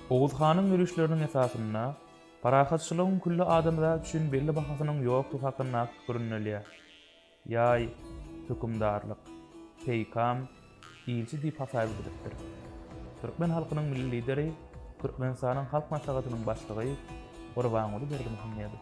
Oguz hanyň ýörişleriniň esasynda parahatçylygyň külli adamzat üçin belli bahasynyň ýokdugy hakyndaky pikir ündelýär. Ýaý, hökümdarlyk, peýkam, ilçi diýip hasaýa gidilipdir. Türkmen halkynyň Milli Lideri, Türkmenistanyň Halk Maslahatynyň Başlygy Gurbanguly Berdimuhamedow.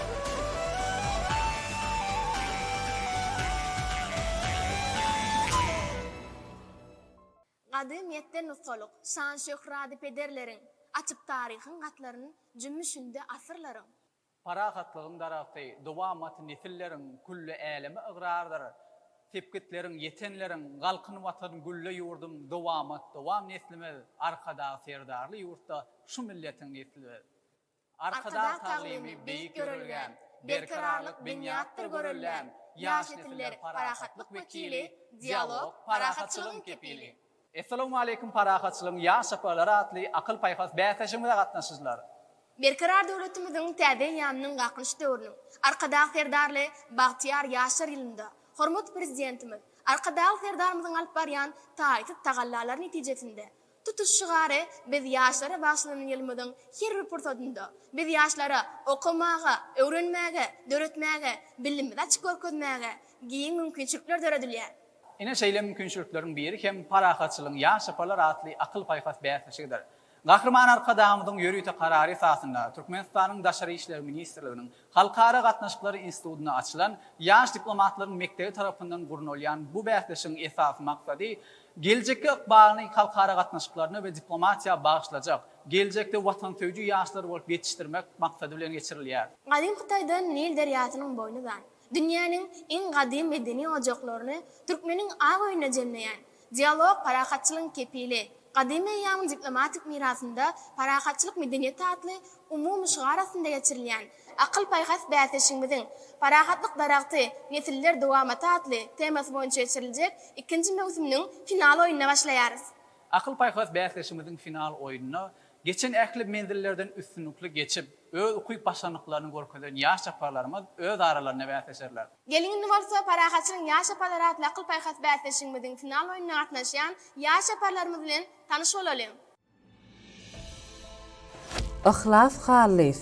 Gadymyýetden nusgalyk şan-şöhrady pederleriň, Açyp taryhyň gatlaryn jümmüşinde asyrlaryň. Parahatlygyň daragty, dowamat nesilleriň, Külli äleme ygrardyr sepgitleriň, ýetenleriň, Galkyn Watan, gülle ýurdum, dowamat, dowam neslimiz, Arkadag Serdarly ýurtda şu milletiň nesli biz. Arkadag taglymy beýik ýörelgäm, Berkararlyk binýatdyr göreldäm, Ýaş nesiller parahatlyk wekili, Dialog, parahatçylygyň kepili. Essalawmaleýkum Parahatçylygyň ýaş çaparlary atly akyl-paýhas bäsleşigimize gatnaşyjylar! Berkarar döwletimiziň täze eýýamynyň Galkynyş döwrüniň Arkadag Serdarly bagtyýar ýaşlar ýylynda hormatly Prezidentimiz Arkadagly Serdarymyzyň alyp barýan taýsyz tagallalary netijesinde Tutuş şygary Biz ýaşlara bagyşlanan ýylymyzyň her bir pursatynda, biz ýaşlara okamaga, öwrenmäge, döretmäge, bilimizi açyp görkezmäge giň mümkinçilikler döredilýär. Ine şeýle mümkinçilikleriň biri hem Parahatçylygyň ýaş çyparlar atly akyl-paýhas bäsleşigidir. Gahryman Arkadagymyzyň ýörite karary esasynda Türkmenistanyň Daşary işler ministrliginiň Halkara gatnaşyklary institutynda açylan Ýaş diplomatlaryň mekdebi tarapyndan gurnalýan bu bäsleşigiň esasy maksady, geljekki ykbalyny halkara gatnaşyklaryna we diplomatiýa bagyşlajak, geljekde watansöýüji ýaşlar bolup ýetişdirmek maksady bilen geçirilýär. Gadym Hytaýdan Nil derýasynyň boýny uzan, dünýäniň iň gadym medeni ojaklaryny türkmeniň ak öýüne jemleýän, Dialog, parahatçylygyň kepili. Gadymy eýýamyň diplomatik mirasynda Parahatçylyk medeniýeti atly umumy şygar astynda geçirilýän Akyl-paýhas bäsleşigimiziň Parahatlyk daragty, nesiller dowamaty atly temasy boýunça geçiriljek ikinji möwsüminiň final oýnuna başlaýarys. Akyl-paýhas bäsleşigimiziň final oýnuna geçen ähli menzillerden üstünlikli geçip, öz ukyp-başarnyklaryny görkezen ýaş çaparlarymyz öz aralarynda bäsleşerler. Geliň indi bolsa parahatçylygyň ýaş yaparlar atly akyl-paýhas bäsleşigimiziň final oýnuna gatnaşýan ýaş yaparlarymyz bilen tanyş bolalyň. Yhlas Hallyýew,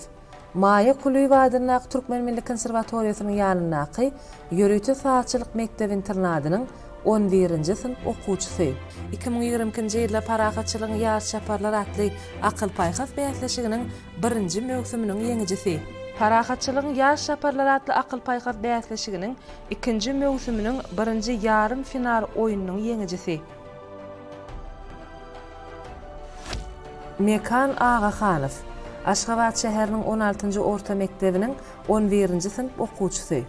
Maýa Kulyýewa adyndaky Türkmen milli konserwatoriýasynyň ýanyndaky ýörite sazçylyk mekdep-internadynyň on birinji synp okuwçysy. Iki müň ýigrimi ikinji ýylda parahatçylygyň ýaş yaparlar atly akyl-paýhas bäsleşiginiň birinji möwsüminiň ýeňijisi. Parahatçylygyň ýaş çaparlary atly akyl-paýhas bäsleşiginiň ikinji möwsüminiň birinji ýarym final oýnunyň ýeňijisi. Mekan Agahanow, Aşgabat şäheriniň on altynjy orta mekdebiniň on birinji synp okuwçysy.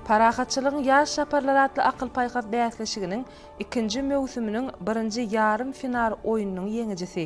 Parahatçylygyň ýaş çaparlary atly akyl-paýhas bäsleşiginiň ikinji möwsüminiň birinji ýarym final oýnunyň ýeňijisi.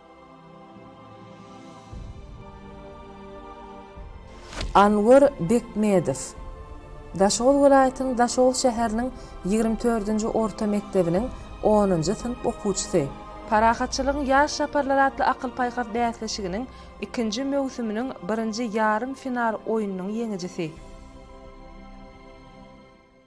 Anwar Bekmedow Daşoguz welaýatynyň Daşoguz şäheriniň ýigrimi dördünji orta mekdebiniň onunjy synp okuwçysy. Parahatçylygyň ýaş çaparlary atly akyl-paýhas bäsleşiginiň ikinji möwsüminiň birinji ýarym final oýnunyň ýeňijisi.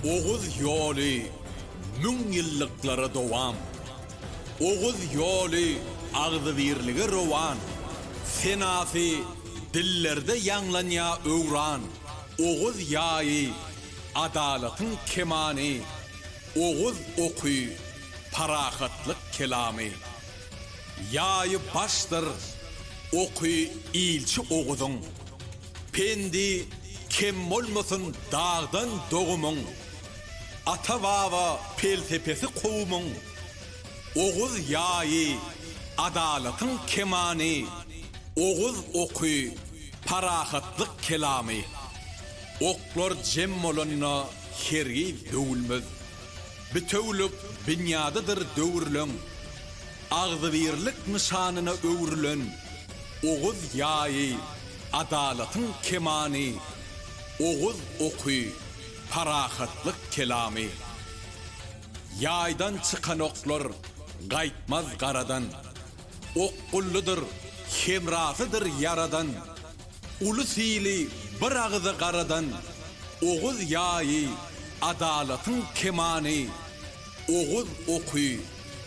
Oguz ýoly müň ýyllyklara dowam. Oguz ýoly agzybirlige rowan. Senasy dillerde ýaňlanýa öwran. Oguz ýaýy, adalatyň kemany. Oguz oky, parahatlyk kelamy. Ýaýy başdyr, oky ilçi Oguzyň. Pendi kem bolmasyn dagdan dogumyň, Ata-baba pelsepesi kowumyň, Oguz ýaýy, adalatyň kemany, Oguz oky, parahatlyk kelamy. Oklar jem bolanda hergiz döwülmez, Bitewülik binýadydyr döwürleň. Agzybirlik nyşanyna öwrülen Oguz ýaýy, adalatyň kemany, Oguz oky, parahatlyk kelamy. Ýaýdan çykan oklar gaýtmaz garadan, Okgullydyr, hemrasydyr ýaradan, Ulus ili bir agyza garadan, Oguz ýaýy, adalatyň kemany, Oguz oky,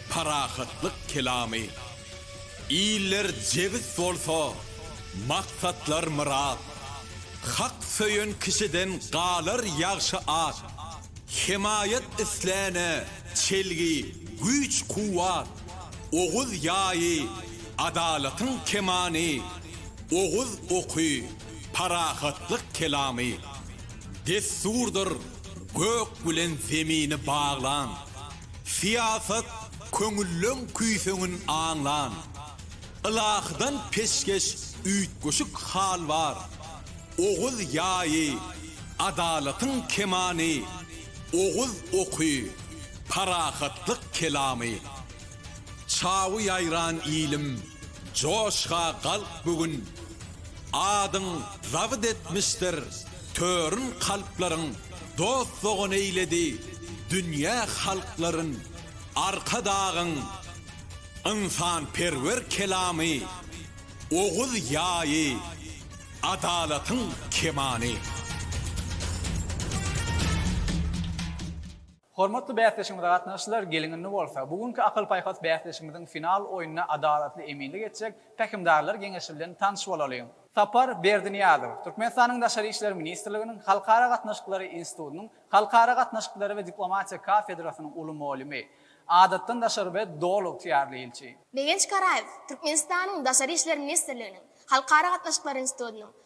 Parahatlyk kelamy. Iller jebis bolsa, maksatlar myrat. Hak söýen kişiden galar ýagşy at. Hemaýat isläne çelgi, güýç-kuwwat. Oguz ýaýy, adalatyň kemany. Oguz oky, parahatlyk kelamy. Dessurdyr gök bilen zemini baglan. Syýasat köňülleň küýseňin aňlan. Ylahydan peşgeş üýtgeşik hal bar. Oguz ýaýy, adalatyň kemany, Oguz oky, parahatlyk kelamy. Çawy ýaýran ilim, joşga galk bu gün, Adyň zabyt etmişdir Törün kalplaryň dost-dogan eýledi, Dünýä halklaryn Arkadagyň Ynsanperwer kelamy, Oguz ýaýy, Adalatyň kemany. Hormatly bäsdeşimize gatnaşyjylar, geliň indi bolsa, bu günki akyl-paýhas bäsdeşimiziň final oýnuna adalatly eminlik etjek Pähimdarlar geňeşi bilen tanyş bolalyň. Sapar Berdiniýazow, Türkmenistanyň Daşary işler ministrliginiň Halkara gatnaşyklary institutynyň Halkara gatnaşyklary we diplomatiýa kafedrasynyň uly molymy, Adatdan daşary we Doly ygtyýarly ilçi. Begenç Karaýew, Türkmenistanyň Daşary işler ministrliginiň Halkara gatnaşyklary institutynyň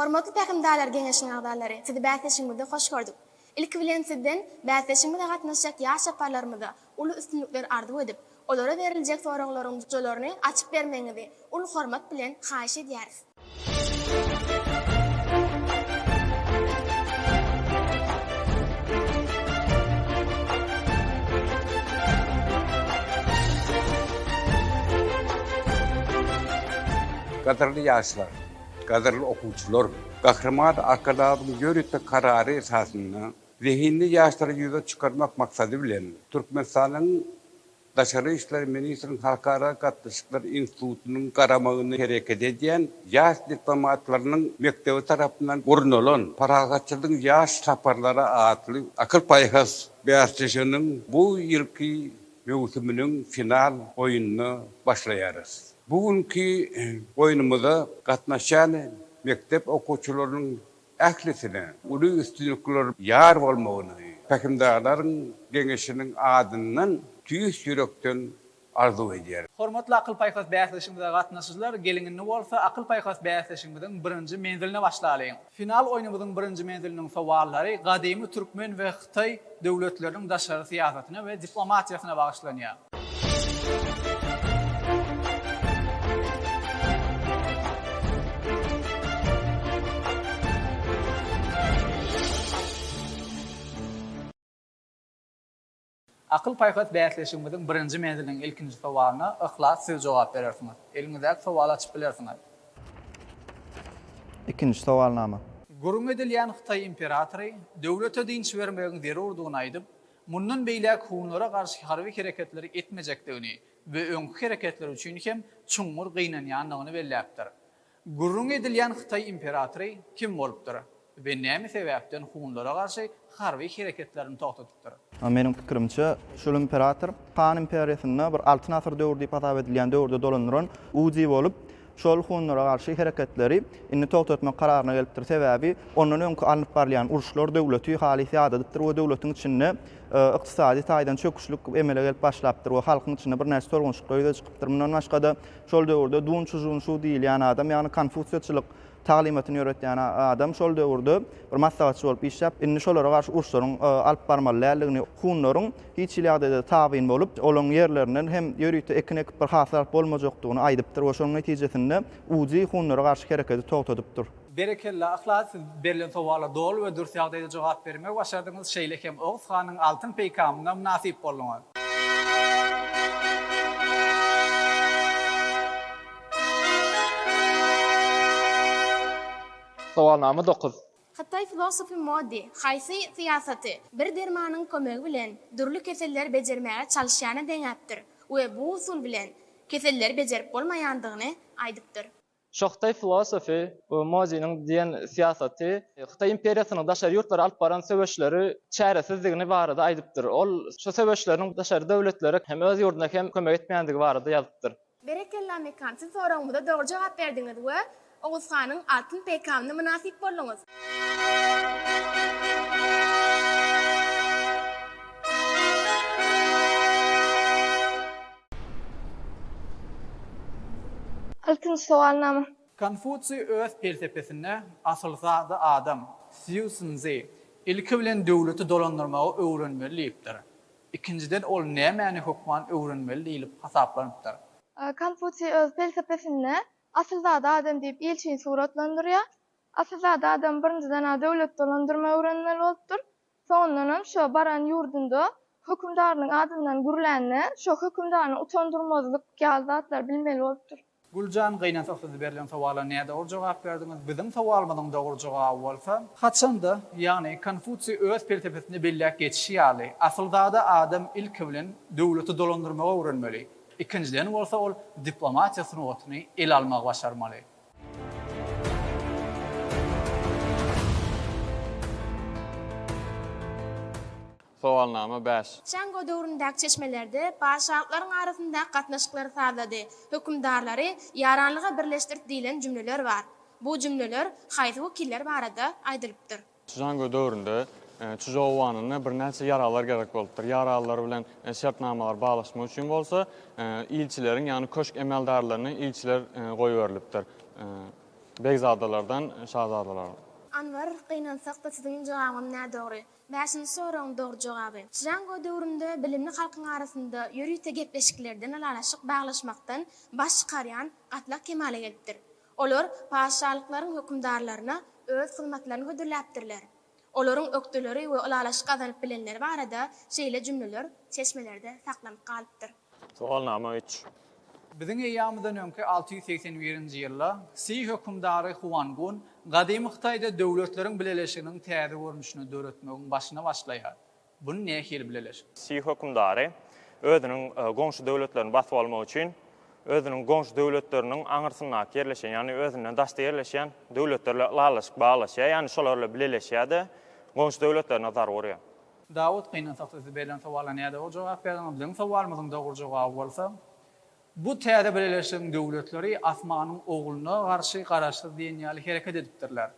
Hormatly Pähimdarlar geňeşiniň agzalary, sizi bäsleşigimizde hoş gördük. Ilki bilen sizden bäsleşigimize gatnaşjak ýaş çaparlarymyza uly üstünlikler arzuw edip, olara beriljek soraglaryň jojalaryny açyp bermegiňizi uly hormat bilen haýyş edýäris. Gadyrly ýaşlar! Gadyrly okuwçylar! Gahryman Arkadagymyzyň ýörite karary esasynda zehinli ýaşlary ýüze çykarmak maksady bilen, Türkmenistanyň Daşary işler ministriniň Halkara gatnaşyklar institutynyň garamagynda hereket edýän Ýaş diplomatlarynyň mekdebi tarapyndan gurnalan Parahatçylygyň ýaş saparlary atly akyl-paýhas bäsleşiginiň bu ýylky möwsüminiň final oýnuna başlaýarys. Bu günki oýnumyza gatnaşýan mekdep okuwçylarynyň ählisine uly üstünlikler ýar bolmagyny Pähimdarlaryň geňeşiniň adyndan tüýs ýürekden arzuw edýärin. Hormatly akyl-paýhas bäsleşigimize gatnaşyjylar, geliň indi bolsa akyl-paýhas bäsleşigimiziň birinji menziline başlalyň! Final oýnumyzyň birinji menziliniň sowallary gadymy türkmen we hytaý döwletleriniň daşary syýasatyna we diplomatiýasyna bagyşlanýar. Akyl-paýhas bäsleşigimiziň birinji menziliniň ilkinji sowalyna Yhlas siz jogap berersiňiz. Eliňizdäki sowaly açyp bilersiňiz. Ikinji sowalnama. Gürrüňi edilýän hytaý imperatory döwlete dynç bermegiň zerurdygyny aýdyp, mundan beýläk hunlara garşy harby hereketleri etmejekdigini we öňki hereketleri üçin hem çuňňur gynanýandygyny belläpdir. Gürrüňi edilýän hytaý imperatory kim bolupdyr we näme sebäpden hunlara garşy harby hereketlerini togtadypdyr? A Meniň pikirimçe, şul imperator Han imperiýasynda bir Altyn asyr döwri diýip hasap edilýän döwürde dolandyran Uzi bolup, şol hunlara garşy hereketleri indi togtatmak kararyna gelipdir, sebäbi ondan öňki alnyp barylýan uruşlar döwleti halys ýadadypdyr we döwletiň içinde ykdysady taýdan çöküşlik emele gelip başlapdyr we halkyň içinde birnäçe tolgunşyklar ýüze çykypdyr. Mundan başga-da, Şol döwürde Dun Çžun Şu diýilýän adam, ýagny konfusiýaçylyk taglymatyny ýöretýän adam şol döwürde bir maslahatçy bolup işläp, indi şolara garşy uruşlaryň alyp barmaly däldigini, hunlaryň hiç hili ýagdaýda tabyn bolup, olaryň ýerlerinden hem ýörite ekin ekip bir hasyl alyp bolmajakdygyny aýdypdyr we şonuň netijesinde Uzi hunlara garşy hereketi togtadypdyr. Berekella Yhlas siz berlen sowala doly we dürs ýagdaýda jogap bermegi başardyňyz şeýle hem Oguz hanyň altyn peýkamyna mynasyp bolduňyz. Sowalnama dokuz. Hytaý filosofy Mo Di, haýsy syýasaty bir dermanyň kömegi bilen dürli keselleri bejermäge çalyşýana deňäpdir we bu usul bilen keselleri bejerip bolmaýandygyny aýdypdyr. Şo hytaý filosofy Moziniň diýen syýasaty Hytaý imperiýasynyň daşary ýurtlara alyp baran söweşleri çäresizdigini barada aýdypdyr. Ol şo söweşleriniň daşary döwletlere hem öz ýurduna hem kömek etmeýändigi barada ýazypdyr. Berekella Mekan siz soragymyza dogry jogap berdiňiz we Oguz hanyň altyn peýkamyna mynasyp bolduňyz. Altynjy sowalnama. Konfusiý öz pelsepesinde Asyl zady adam, Sziu Szinzi, ilki bilen döwleti dolandyrmagy öwrenmeli diýipdir. Ikinjiden ol nämäni hökman öwrenmeli diýlip hasaplanypdyr? Konfusiý öz pelsepesinde Asyl zady adam diýip ilçini suratlandyrýar. Asyl zady adam birinjiden-ä döwleti dolandyrmagy öwrenmeli bolupdyr. Soňundanam şo baran ýurdunda hökümdarynyň adyndan gürlände, şo hökümdany utandyrmazlyk ýaly zatlar bilmeli bolupdyr. Güljan gynansa siz berlen sowala nädogry jogap berdiňiz. Biziň sowalymyzyň dogry jogaby bolsa, haçanda, ýagny Konfusiý öz pelsepesinde belläp geçişi ýaly, asylzada adam ilki bilen döwleti dolandyrmagy öwrenmeli, ikinjiden bolsa ol diplomatiýa sungatyny ele almagy başarmaly. Sowalnama bäş. Çango döwründäki çeşmelerde patyşalyklaryň arasyndaky gatnaşyklary sazlady, hökümdarlary ýaranlyga birleşdirdi diýlen jümleler bar. Bu jümleler haýsy wekiller barada aýdylypdyr? Çžango döwründe Çžou Wanynda birnäçe ýaraglar gerek bolupdyr. Ýaraglar bilen şertnamalary baglaşmak üçin bolsa ilçileriň, ýagny köşk emeldarlarynyň ilçiler goýberilipdir. Begzadalardan şazadalara. Anwar, Gynansakda siziň jogabyňyz nädogry. Bäşinji soragyň dogry jogaby. Çžango döwründe bilimli halkyň arasynda ýörite gepleşiklerden ylalaşyk baglaşmakdan baş çykarýan gatlak kemala gelipdir. Olar patyşalyklaryň hökümdarlaryna öz hyzmatlaryny hödürläpdirler. Olaryň ökdeleri we ylalaşyk gazanyp bilenleri barada şeýle jümleler çeşmelerde saklanyp galypdyr. Sowalnama üç. Biziň eýýamyzdan öňki alty ýüz segsen birinji ýylda Si hökümdary Huangun gadymy Hytaýda döwletleriň bileleşiginiň täze görnüşini döretmegiň başyny başlaýar. Buny nähili bileliş? Sih hökümdary özüniň goňşy döwletlerini basyp almak üçin özüniň goňşy döwletleriniň aňyrsyndaky ýerleşen, ýagny özünden daşda ýerleşýän döwletler bilen ylalaşyk baglaşýar, ýagny şolar bilen bileleşýär-de, goňşy döwletlerine zarba urýar. Dawut, Gynansak sizi berlen sowala nädip dogry jogap berdiňiz? Biziň sowalymyzyň dogry jogaby bolsa, Bu täze bileleşigiň döwletleri Asmanyň Ogluna garşy garaşsyz diýen ýaly hereket edipdirler.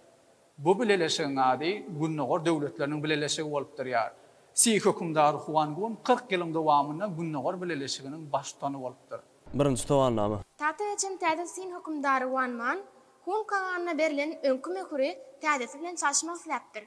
Bu bileleşigiň ady Gündogar döwletleriniň bileleşigi bolup durýar. Si hökümdary Huangun kyrk ýylyň dowamynda Gündogar bileleşiginiň baştutany bolupdyr. Birinji Sowalnama. Tagta geçen täze Sin hökümdary Wan Man, Hun kaganyna berlen öňki möhüri täzesi bilen çalşmak isläpdir.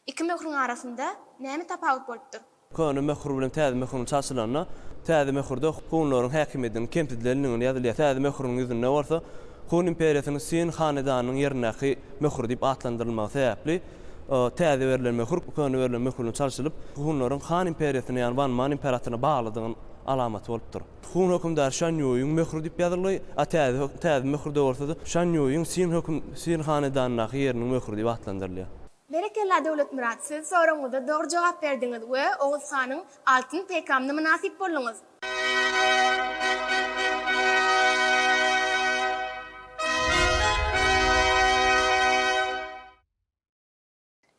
Iki möhrüň arasynda näme tapawut bolupdyr? Köne möhür bilen täze möhüriň çalşylanda, täze möhürde hunlaryň häkimiýetiniň kemsidilendigini ýazylýar, täze möhüriň ýüzünde bolsa Hun imperiýasynyň Sin hanedanynyň ýerindäki möhür diýip atlandyrylmagy sebäpli, täze berlen möhür köne berlen möhür bilen çalşylyp, hunlaryň Han imperiýasyna, ýagny Wan Man imperatoryna baglydygynyň alamaty bolupdyr. Hun hökümdary Şan Ýuýyň möhri diýip ýazylgy, a täze täze möhürde bolsa-da Şan Ýuýyň Sin höküm Sin hanedanyndaky ýeriniň möhri diýip atlandyrylýar. Berekella Döwletmyrat siz soragyňyza dogry jogap berdiňiz we Oguz hanyň altyn peýkamyna mynasyp bolduňyz.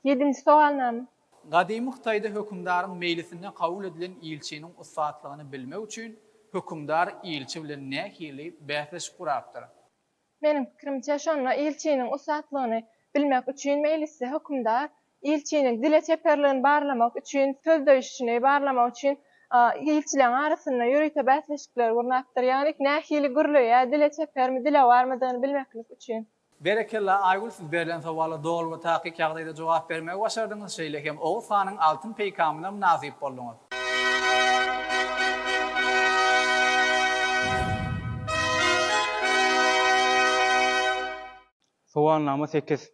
Ýedinji sogalnama. Gadymy Hytaýda hökümdaryň meýlisinde kabul edilen ilçiniň ussatlygyny bilmek üçin hökümdar ilçi bilen nähili bäsleşik gurapdyr? Meniň pikirimçe, şonda ilçiniň ussatlygyny bilmek üçin meýlisli hökümdar ilçiniň dile çeperligini barlamak üçin, sözleýşini barlamak üçin ilçileriň arasynda ýörite bäsleşikleri gurnapdyr. Ýagny nähili gürleýär, dile çepermi, dilewarmydygyny bilmeklik üçin. Berekella Aýgül siz berlen sowala doly we takyk ýagdaýda jogap bermegi başardyňyz şeýle hem Oguz hanyň altyn peýkamyna mynasyp bolduňyz. Sowalnama sekiz.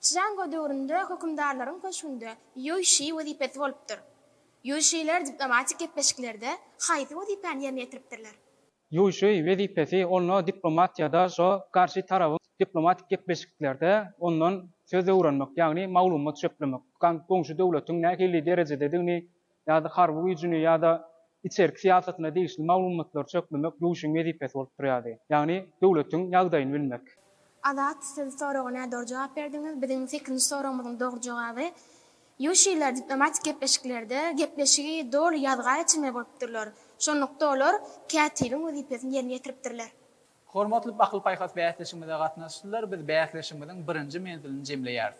Çžango döwründe hökümdarlaryň köşgünde ýuýşi wezipesi bolupdyr. Ýuýşiler diplomatik gepleşiklerde haýsy wezipäni ýerine ýetiripdirler? Ýuşuý wezipesi onda diplomat ýa-da şo garşy tarabyň diplomatik gepleşiklerde ondan söz öwrenmek, ýagny maglumat çöplemek, goňşy döwletiň nähili derejededigini ýa-da harby güýjüni ýa-da içerki syýasatyna degişli maglumatlary çöplemek ýuşuň wezipesi bolup durýardy. Ýagny döwletiň ýagdaýyny bilmek. Azat siz soraga nädogry jogap berdiňiz. Biziň sekinji soragymyzyň dogry jogaby Ýuşiler diplomatik gepleşiklerde gepleşigi doly ýazga geçirmeli bolupdyrlar, şonlukda olar kätibiň wezipesini ýerine ýetiripdirler. Hormatly bakyl-paýhas bäsleşigimize gatnaşyjylar, biz bäsleşigimiziň birinji menzilini jemleýäris.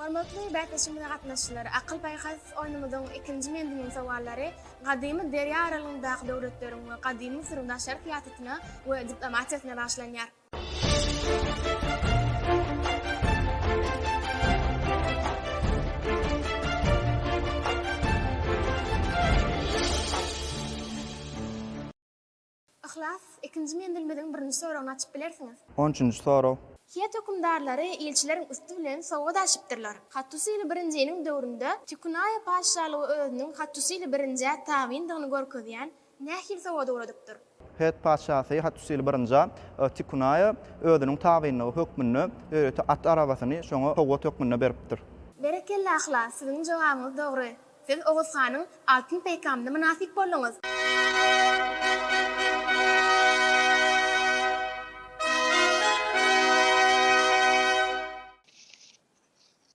Hormatly bäsleşigimize gatnaşyjylar, Akyl-paýhas oýnumyzyň ikinji menziliniň sowallary gadymy derýa aralygyndaky döwletleriň we gadymy Müsüriň daşary syýasatyna we diplomatiýasyna bagyşlanýar. Yhlas, ikinji menzilimiziň birinji soragyny açyp bilersiňiz. On üçünji sorag. Hiýet hökümdarlary ilçileriň üsti bilen sowgat aşypdyrlar. Hattusili birinjiniň döwründe Tikunaýa patyşalygy özüniň Hattusili birinjä tabyndygyny görkezýän nähili sowgada ugradypdyr? Hiýet patyşasy Hattusili birinjä Tikunaýa özüniň tabynlygy hökmünde ýörite at arabasyny şoňa sowgat hökmünde beripdir. Berekella, Yhlas, siziň jogabyňyz dogry. Siz Oguz hanyň altyn peýkamyna mynasyp bolduňyz.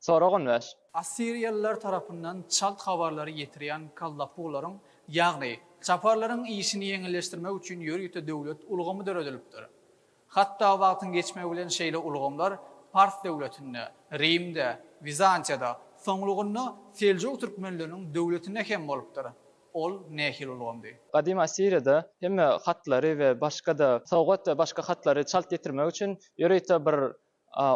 Sorag on bäş. Assiriýalylar tarapyndan çalt habarlary ýetirýän kallapuglaryň, ýagny, çaparlaryň işini ýeňilleşdirmek üçin ýörite döwlet ulgamy döredilipdir. Hatda wagtyň geçmegi bilen şeýle ulgamlar Pars döwletinde, Rimde, Wizantiýada, soňlugynda Seljuk türkmenleriniň döwletinde hem bolupdyr. Ol nähili ulgamdy? Gadymy Assiriýada hemme hatlary we başga-da sowgat we başga hatlary çalt ýetirmek üçin ýörite bir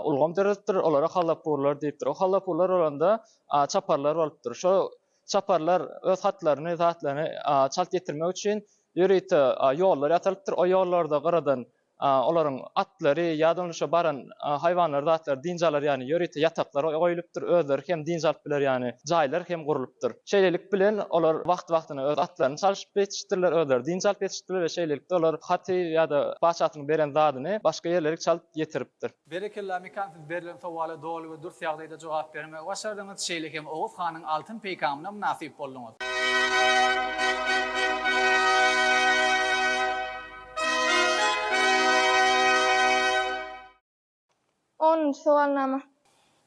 ulgam döredipdir, olara Hallapurlar diýipdir. O Hallapurlar bolanda çaparlar bolupdyr. Şo çaparlar öz hatlaryny, zatlaryny çalt ýetirmek üçin ýörite ýollar ýasalypdyr. O ýollarda gyradan olaryň atlary ýa-da onda şo baran haýwanlary, zatlary dynç alar ýaly ýörite ýataklar goýlupdyr. Özleri hem dynç alyp biler ýaly jaýlar hem gurlupdyr. Şeýlelik bilen olar wagt-wagtyna öz atlaryny çalşyp ýetişipdirler, özleri dynç alyp ýetişipdirler we şeýlelikde olar haty ýa-da patyşasynyň beren zadyny başga ýerlerik çalt ýetiripdir. Berekella Mekan siz berlen sowala doly we dürs ýagdaýda jogap bermegi başardyňyz, şeýle hem Oguz hanyň altyn peýkamyna mynasyp bolduňyz. Onunjy sowalnama.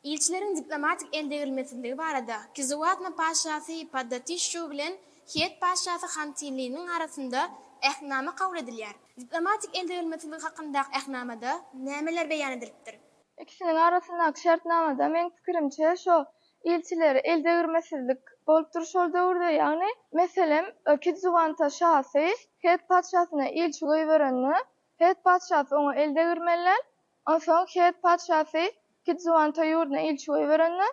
Ilçileriň diplomatik eldegrilmesizligi barada Kizuwatna patyşasy Paddatişşu bilen Hiet patyşasy Hantiliniň arasynda Ähtnama kabul edilýär. Diplomatik eldegrilmesizlik hakyndaky Ähtnamada nämeler beýan edilipdir? Ikisiniň arasyndaky şertnamada, meň pikirimçe, şo ilçileri eldegirmesizlik bolupdyr şol döwürde, ýagny, meselem, Kizuwanta şasy Hiet patyşasyna ilçi goýberende, Hiet patyşasy oňa eldegirmelen, Onsoň Het patyşasy Kidzuwanta ýurduna ilçi goýberende,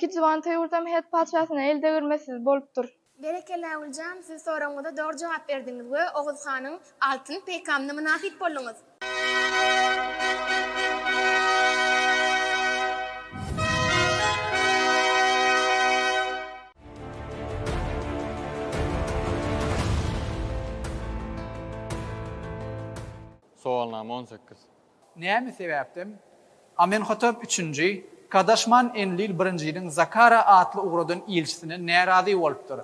Kidzuwanta ýurdam Het patyşasyna el degirmesiz bolupdyr. Berekella Güljan, siz soragymyza dogry jogap berdiňiz we Oguz hanyň altyn peýkamyna mynasyp bolduňyz. Sowalnama on sekiz. Näme sebäpden Amenhotep üçünji Kadaşman Enlil birinjiniň Zakara atly ugradan ilçisine närazy bolupdyr?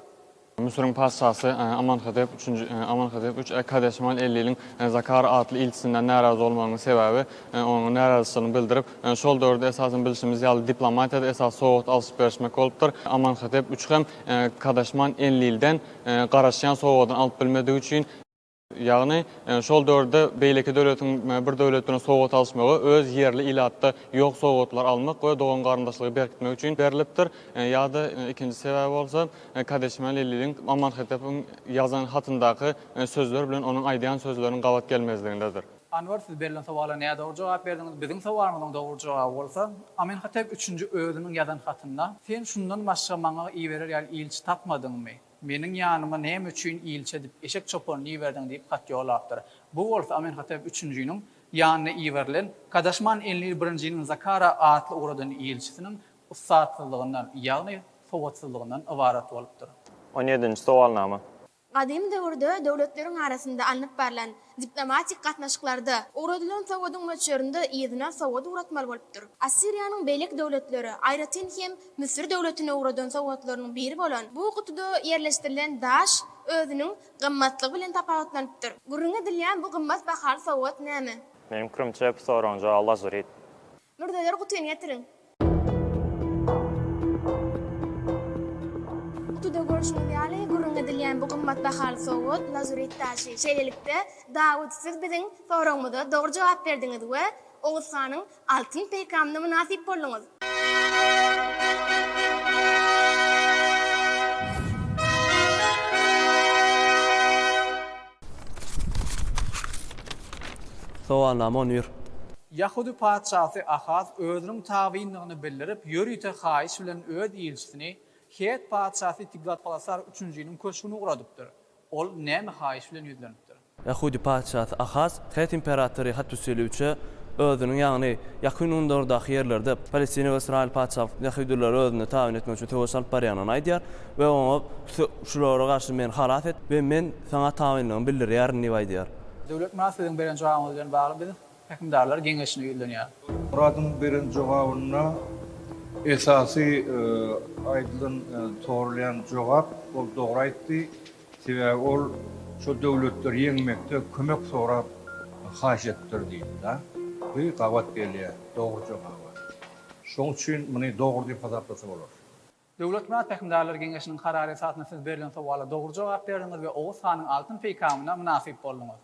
Müsüriň patyşasy Amanhotep üçünji, Amenhotep üç, Kadaşman Enliliň Zakara atly ilçisinden närazy bolmagynyň sebäbi, onuň närazyçylygyny bildirip, şol döwürde esasan bilşimiz ýaly diplomatiýada esas sowgat alşyp-berişmek bolupdyr. Amanhotep üç hem Kadaşman Enlilden garaşýan sowgadyny alyp bilmedigi üçin. Ýagny, şol döwürde beýleki döwletiň bir döwlet bilen sowgat alyşmagy öz ýerli ilatda ýok sowgatlary almak we dogan-garyndaşlygy berkitmek üçin berlipdir. Ýa-da ikinji sebäbi bolsa, Kadeşman Leliliň Amanhetepiň ýazan hatyndaky sözler bilen onuň aýdýan sözleriniň gabat gelmezligindedir. Anwar, siz berlen sowala nädogry jogap berdiňiz. Biziň sowalymyzyň dogry jogaby bolsa, Amenhotep üçünji özüniň ýazan hatynda, Sen şundan başga maňa iberer ýaly ilçi tapmadyňmy? Meniň ýanyma näme üçin ilçi edip eşek çopanyny iberdiň diýip hat ýollapdyr. Bu bolsa Amenhotep üçünjiniň ýanyna iberilen Kadaşman Enlil birinjiniň Zakara atly ugradan ilçisiniň ussatsyzlygyndan, ýagny sowatsyzlygyndan ybarat bolupdyr. On ýedinji sowalnama. Gadym döwürde döwletleriň arasynda alnyp barlan Diplomatik gatnaşyklarda, ugradylan sowadyň möçberinde yzyna sowat ugratmaly bolupdyr. Assiriýanyň beýleki döwletleri, aýratyn hem Müsür döwletine ugradan sowatlarynyň biri bolan bu gutuda ýerleşdirilen daş özüniň gymmatlygy bilen tapawutlanypdyr. Gürrüň edilýän bu gymmat bahaly sowat näme? Meniň pikirimçe, bu soragyň jogaby Lazurit. Mürzeleri gutyny getiriň. Gutyda görşüňiz ýaly, gürrüň edilýän bu gymmat bahaly sowgat, lazurit daşy. Şeýlelikde, Dawut, siz biziň soragymyza dogry jogap berdiňiz we Oguz hanyň altyn peýkamyna mynasyp bolduňyz. Soganlamon ýör. Ýahudy patyşasy Ahaz özüniň tabyndygyny bildirip, ýörite haýyş bilen öz ilçisini het patyşasy Tiglatpalesar üçünjiniň köşgüne ugradypdyr. Ol näme haýyş bilen ýüzlenipdir? Ýahudy patyşasy Ahaz het imperatory Hatuseliwçe özüniň, ýagny Ýakyn Gündogardaky ýerlerde Palestina we Ysraýyl patyşalyklarynda ýahudylary özünde tabyn etmek üçin söweş alyp barýanyny aýdýar we oňa Şulara garşy meni halas et we men Saňa tabynlygymy bildirýärin diýip aýdýar. Döwlet Myrat siziň beren jogabyňyz bilen bagly biz Häkimdarlar geňeşine ýüzlenýäris. Myradyň beren jogabynda esasy aýdylan sorulýan jogap ol dogry aýtdy. Sebäbi ol şo döwletleri ýeňmekde kömek sorap haýyş etdir diýipdi. Bu gabat gelýär dogry jogaba. Şoň üçin muny dogry diýip hasaplasa bolar. Döwlet Myrat Pähimdarlar geňeşiniň karary esasynda siz berlen sowala dogry jogap berdiňiz we Oguz hanyň altyn peýkamyna mynasyp bolduňyz.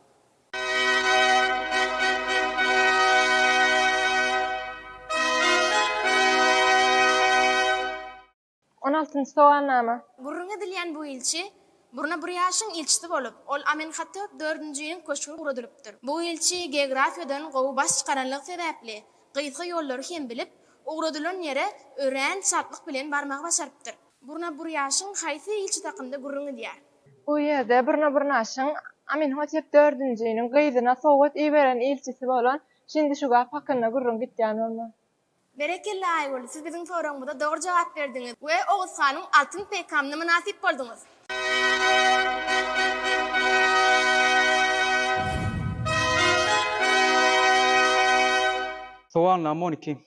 On altynjy sowalnama. Gürrüňi edilýän bu ilçi Burna Burýaşyň ilçisi bolup, ol Amenhotep dördünjiniň köşgi guradylypdyr. Bu ilçi geografiýadan gowy baş çykaranlygy sebäpli, Gysga ýollary hem bilip, ugradylan ýere örän çaltlyk bilen barmagy başarypdyr. Burna Burýaşyň haýsy ilçi hakynda gürrüň edýär? Bu ýerde Burna Burnaşyň Aminhotep dördünjiniň gyzyna sowgat iberen ilçisi bolan Şindişugap hakynda gürrüň gitýän bolmaly. Berekella Aýgül, siz biziň soragymyza dogry jogap berdiňiz we Oguzhanyň altyn peýkamyna mynasyp bolduňyz. Sowal nam on iki.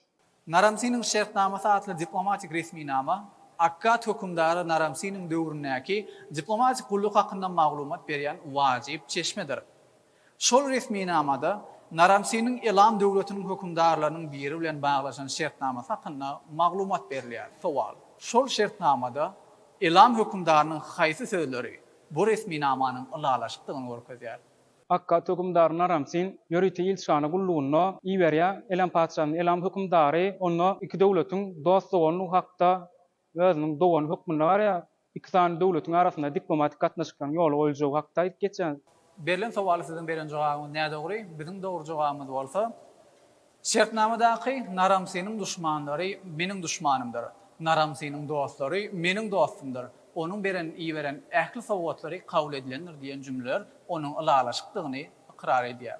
Naramsiniň şertnamasy atly diplomatik resminama Akkad hökümdary Naramsiniň döwründäki diplomatik gulluk hakynda maglumat berýän wajyp çeşmedir. Şol resminamada Naram-Siniň Elam döwletiniň hökümdarlarynyň biri bilen baglaşan şertnamasy hakynda maglumat berilýär. Sowal. Şol şertnamada Elam hökümdarynyň haýsy sözleri bu resminamanyň ylalaşykdygyny görkezýär? Akkat hökümdary Naram-Sin ýörite ilçihana gullugynda iberýär Elam patyşasyny. Elam hökümdary onda iki döwletiň dost-doganlygy hakda özüniň dogany hökmünde garaýar, iki sany döwletiň arasynda diplomatik gatnaşyklaryň ýola goýuljagy hakda aýdyp geçýär. Berlen sowala siziň beren jogabyňyz nädogry, biziň dogry jogabymyz bolsa, Şertnamadaky Naramsynyň duşmanlary meniň duşmanymdyr, Naramsynyň dostlary meniň dostumdyr, onuň beren iberen ähli sowgatlary kabul edilendir diýen jümleler onuň ylalaşykdygyny ykrar edýär.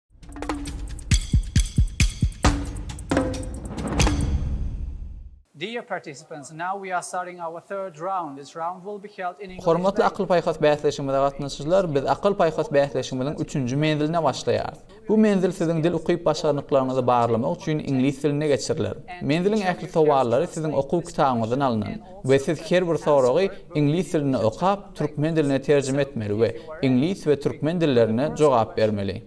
Dear participants, now we are starting our third round. This round will be held in English. Hormatly akyl-paýhas bäsleşigimize gatnaşyjylar, biz akyl-paýhas bäsleşigimiziň üçünji menziline başlaýarys. Bu menzil siziň dil ukyp-başarnyklaryňyzy barlamak üçin iňlis dilinde geçiriler. Menziliň ähli sowallary siziň okuw kitabyňyzdan alnan. we siz her bir soragy iňlis dilinde okap, türkmen diline terjime etmeli we iňlis we türkmen dillerinde jogap bermeli.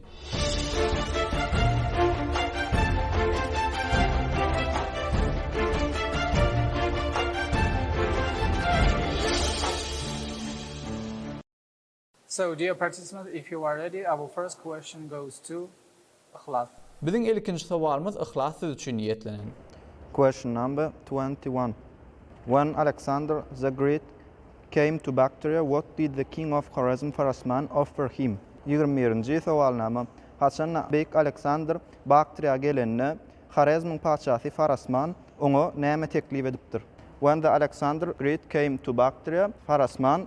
So dear participants if you are ready our first question goes to Yhlas. Biziň ilkinji sowalymyz Yhlas siz üçin niýetlenen. Question number twenty one When Alexander the Great came to Bactria what did the king of Horezm Farasman offer him? Ýigrimi birinji sowalnama Haçan beýik Alexander Baktriýa gelende Horezmiň patyşasy Farasman oňa näme teklip edipdir? When the Alexander Great came to Bactria Farasman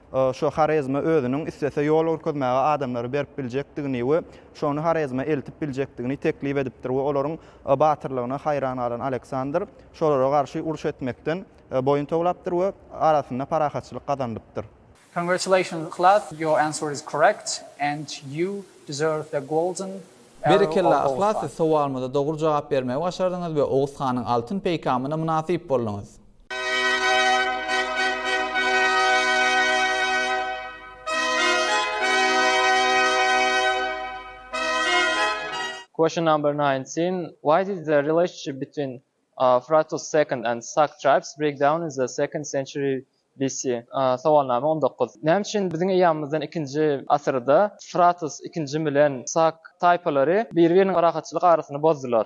Şu Horezme özüniň islese ýol görkezmäge adamlary berip biljekdigini we şony Horezme eltip biljekdigini teklip edipdir we olaryň batyrlygyna haýran galan Aleksandr şolara garşy uruş etmekden boýun towlapdyr we arasynda parahatçylyk gazanylypdyr. Congratulations Yhlas your answer is correct and you deserve the golden arrow Berekella of Yhlas siz sowalymyza dogry jogap bermegi başardyňyz we Oguz hanyň altyn peýkamyna mynasyp bolduňyz. Question number 19. Why did the relationship between uh, Fratus II and Sak tribes break down in the second century BC? Uh, Sowalnama 19. Näme üçin biziň eýýamymyzdan 2-nji asyrda Fratus II bilen Sak taýpalary bir-biriniň parahatçylyk arasyny bozdular?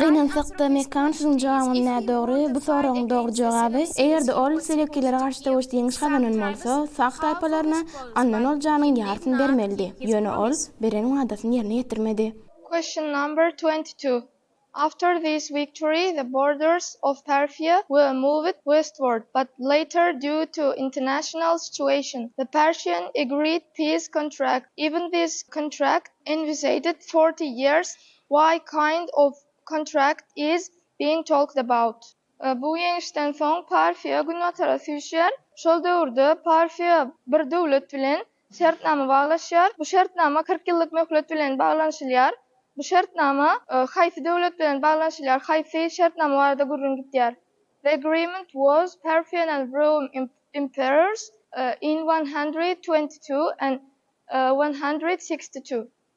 Gynansakda, Mekan sözüň jogabyny nädogry, bu soragyň dogry jogaby, eger-de ol Selewkilere garşy söweşde ýeňiş gazanan bolsa, Sag taýpalaryna alnan oljanyň ýarysyny bermelidi. Ýöne ol beren wadasyny ýerine ýetirmedi. Question number twenty two, After this victory the borders of Parfia were moved westward, but later due to international situation the Persian agreed peace contract, even this contract envisaged forty years Why kind of contract is being talked about? Bu ýeňişden soň Parfiýa günbatara süýşýär. Şol döwürde Parfiýa bir döwlet bilen şertnama baglaşýar. Bu şertnama kyrk ýyllyk möhlet bilen baglanyşylýar. Bu şertnama haýsy döwlet bilen baglanyşylýar, haýsy şertnama barada gürrüň gidýär? The agreement was Parfian and Roum emperors in one hundred twenty two and one hundred sixty two.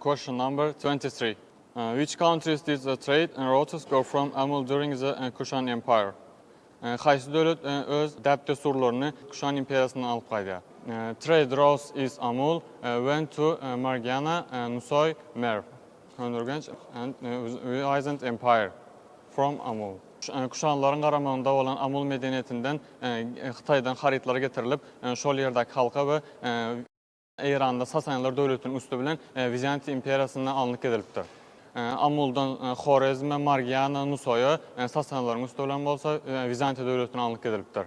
Question number 23. Uh, which countries did the trade and routes go from Amul during the uh, Kushan Empire? Uh, Haýsy döwlet uh, öz däp-dessurlaryny Kuşan imperiýasyndan alyp gaýdýar? Uh, trade routes is Amul uh, went to uh, Margiana, uh, Nusoy, Merv. Köneürgenç and Ueaisant Empire from Amul. Kuşanlaryň garamagynda bolan Amul medeniýetinden Hytaýdan harytlar getirilip, şol ýerdäki halka we Eýranda Sasanlar döwletiniň üsti bilen Wizantiýa imperiýasyna alnyp gidilipdir. Amuldan Horezme, Margiana, Nusaýa, Sasanlaryň üsti bilen bolsa Wizantiýa döwletine alnyp gidilipdir.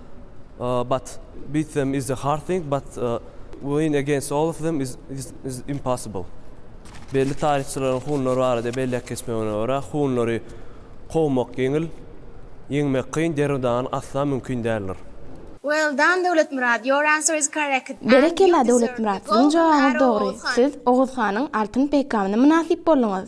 but beat them is a hard thing but win against all of them is impossible. Belli taryhçylaryň hunlar barada belläp geçmegine görä, hunlary kowmak ýeňil, ýeňmek kyn, derw-dagyn asla mümkin däldir. Well done Döwletmyrat, your answer is correct and you deserve the golden arrow of Oguz hanyň. Berekella Döwletmyrat, siziň jogabyňyz dogry, siz Oguz hanyň altyn peýkamyna mynasyp bolduňyz.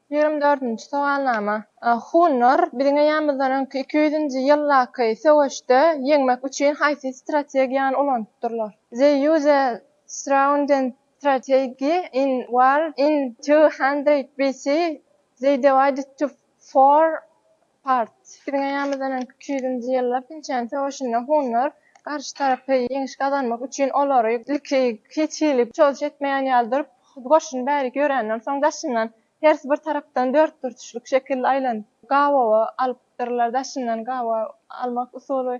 Ýigrimi dördünji sowalnama. Hunlar biziň eýämizden öňki iki ýüzünji ýyldaky söweşde ýeňmek üçin haýsy strategiýany ulanypdyrlar? They use a sraundent strategy in war in two hundred BC. They divided to four Part. Biziň eýämizden öňki iki ýüzünji ýyllar Pinçen söweşinde hunlar garşy tarapy ýeňiş gazanmak üçin olary ilki hiç hili çozuş etmeýän ýaly durup, goşuny bärik ýörenden soň daşyndan hersi bir tarapdan dörtburçluk şekilde aýlanyp gabawa alypdyrlar, daşyndan gabawa almak usuly.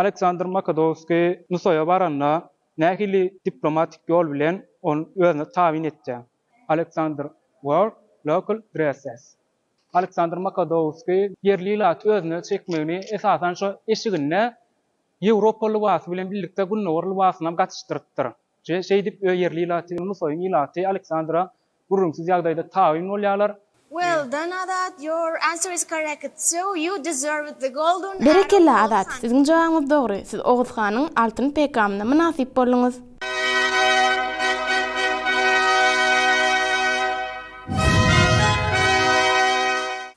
Aleksandr Makodowskiý NSOE baranda nähili diplomatik ýol bilen ony özüne tabyn etýär? Aleksandr World Local Dresses Aleksandr Makodowskiý ýerli ilaty özüne çekmegini esasan şo eşiginde Ýewropa lybasy bilen birlikde Gündogar lybasyny hem gatyşdyrypdyr. Şeýdip, ýerli ilaty, NSOE-yň ilaty Aleksandra gürrüňsiz ýagdaýda tabyn bolýarlar. Well done Azat, your answer is correct, so you deserved the golden arrow also. Berekella Azat, siziň jogabyňyz dogry, siz Oguz hanyň altyn peýkamyna mynasyp bolduňyz.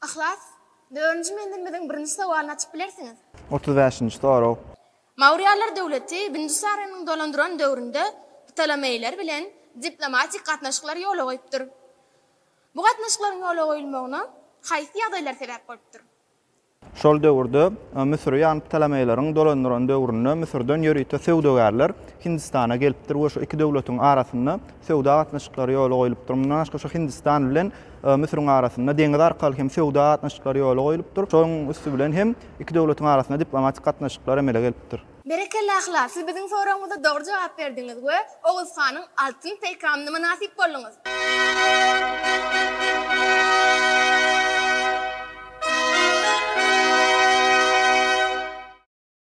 Yhlas, dördünji menzilimiziň birinji sowalyny açyp bilersiňiz. Otuz bäşinji sorag. Maurýalar döwleti Bindusaranyň dolandyran döwründe Ptolomeýler bilen diplomatik gatnaşyklar ýola goýupdyr. Bu gatnaşyklaryň ýola goýulmagyna haýsy ýagdaýlar sebäp bolupdyr? Şol döwürde Müsüri ýagny Ptolomeýleriň dolandyran döwründe Müsürden ýörite söwdagärler Hindistana gelipdir we şu iki döwletiň arasynda söwda gatnaşyklary ýola goýlupdyr. Mundan başga şu Hindistan bilen Müsüriň arasynda deňiz arkaly hem söwda gatnaşyklary ýola goýlupdyr. Şonuň üsti bilen hem iki döwletiň arasynda diplomatik gatnaşyklar emele gelipdir. Berekella Ahlak, siz biziň soragymyza dogry jogap berdiňiz we Oguz hanyň altyn peýkamyna mynasyp bolduňyz.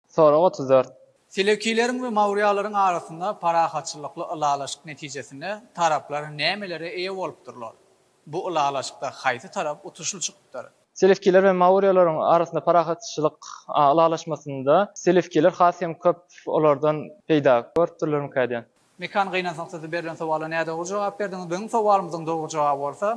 Sorag otuz dört. Selewkileriň we mawrýalaryň arasynda parahatçylykly ylalaşyk netijesinde taraplar nämelere eýe bolupdyrlar? Bu ylalaşykda haýsy tarap utuşly çykypdyr? Selewkiler we mawrýalaryň arasynda parahatçylyk ylalaşmasynda selewkiler has hem köp olardan peýda görüpdirlermikä diýen. Mekan gynansak sizi berlen sowala nädogry jogap berdiňiz biziň sowalymyzyň dogry jogaby bolsa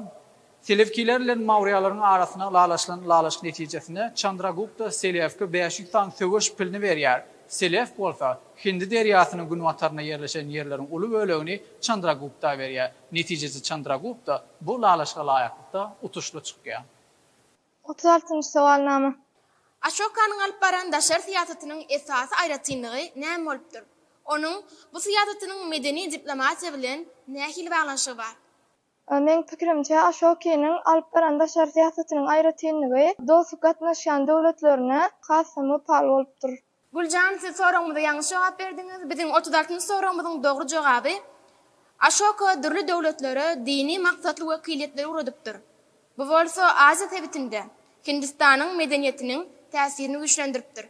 Selewkiler bilen Maurýalaryň arasyna lalaşylan lalaşyk netijesinde Çandragupta Selewke bäş ýüz san söweş pilini berýär Selewk bolsa Hindi derýasynyň günbatarynda ýerleşen ýerleriň uly bölegini Çandragupta berýär netijede Çandragupta bu lalaşyga laýyklykda utuşly çykýar. Otuz altynjy sowalnama. Aşokanyň alyp baran daşary syýasatynyň esasy aýratynlygy näme bolupdyr? Onuň bu syýasatynyň medeni diplomatiýa bilen nähili baglanyşygy bar? Meň pikirimçe, Aşokiniň alyp baran daşary syýasatynyň aýratynlygy dostluk gatnaşýan döwletlerine has-da wepaly bolupdyr. Güljan siz soragymyza ýalňyş jogap berdiňiz. Biziň otuz altynjy soragymyzyň dogry jogaby, Aşoka dürli döwletlere dini maksatly wekiliýetleri ugradypdyr. Bu bolsa Aziýa sebitinde Hindistanyň medeniýetiniň täsirini güýçlendiripdir.